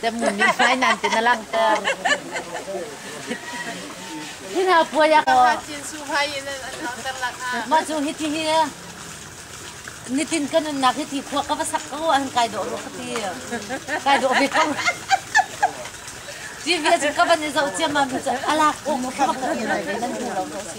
Kan ngun nih hmai nan te na langhter. Hi hna puai ah kaw. Mah cu hi ti hi nitin kan nunnak hi ti khua ka va sak ko an kai dawh ru khati. Kai dawh ve ko. Ji ve cu ka van i zoh ciam ma mi cu alak ong ka va ka nan nan du lo ko si.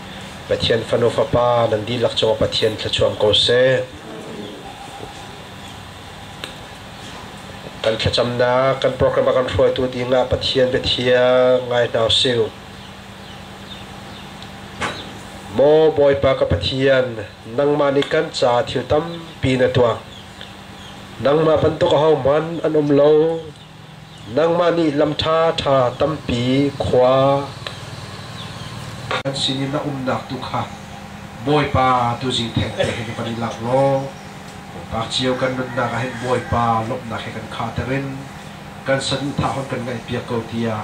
Pathian fanu fapa nan dihlak cungah Pathian thluachuam ko seh. Kan thlacamnak kan program a kan hruaitu dingah Pathian biathia ngai hna usih. Maw Bawipa ka Pathian, nangmah nih kan ca thil tampi na tuah. Nangmah bantuk ahohmanh an um lo, Nangmah nih lam ṭhaṭha tampi khua kan sin i na umnak tu kha Bawipa tuzing thengte he kan i lak law Bawipa cio kan nunnak ah hin Bawipa lawmhnak he kan khahter in kan saduhthah hun kan ngaihpiak ko tiah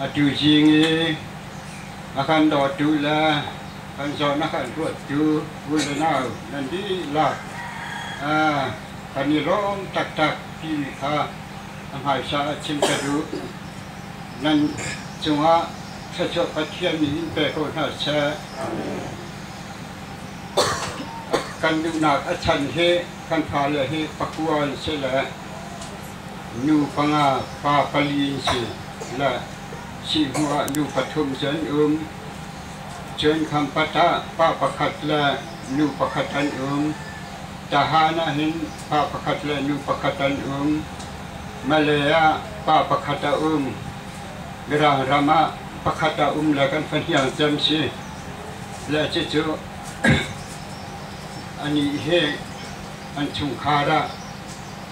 A tuzing i a kan dawtu le kan zawn a kan ruattu u le nau nan dihlak kan i lawm taktak timi kha a hmaisa ah chim ka duh. Nan cungah thluachuah Pathian nih in pe ko hna seh. Kan duhnak a chan hi kan fale hi pakua an si le Nu panga fa pali an si. La Sihhmu ah nu pathum cu an um. Cun khampat ah pa pakhat le nu pakhat an um. Tahan ah hin pa pakhat le nu pakhat an um. Malay ah pa pakhat a um. Mirang ram ah pakhat a um le kan fahniang cem si. Le cucu anih hi an chungkhar ah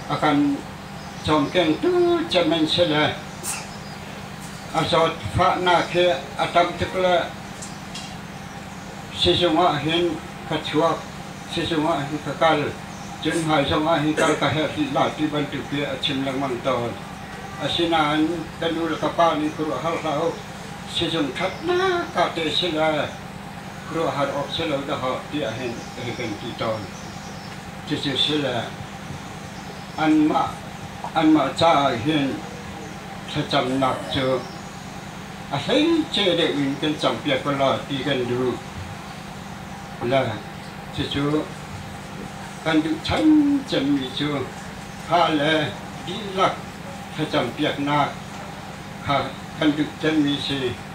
a kan cawmkengtu cem an si le a zawt fahnak hi a tam tuk le sizung ah hin ka chuak sizung ah hin ka kal cun hmai zong ah hi kal ka herh la ti bantuk hi a chim lengmang tawn asinain ka nu le ka pa nih khuaruah hal hlah uh sizung ṭhatnak ka te si le Khuaruahhar awk si lo dahawh tiah hin hi kan ti tawn. Cucu si le anmah, anmah caah hin thlacamnak cu a hleice deuh in kan campiak ko law ti kan duh. Le cucu kan duh chan cemmi cu kha le dihlak thlacampiaknak kha kan duh cemmi si.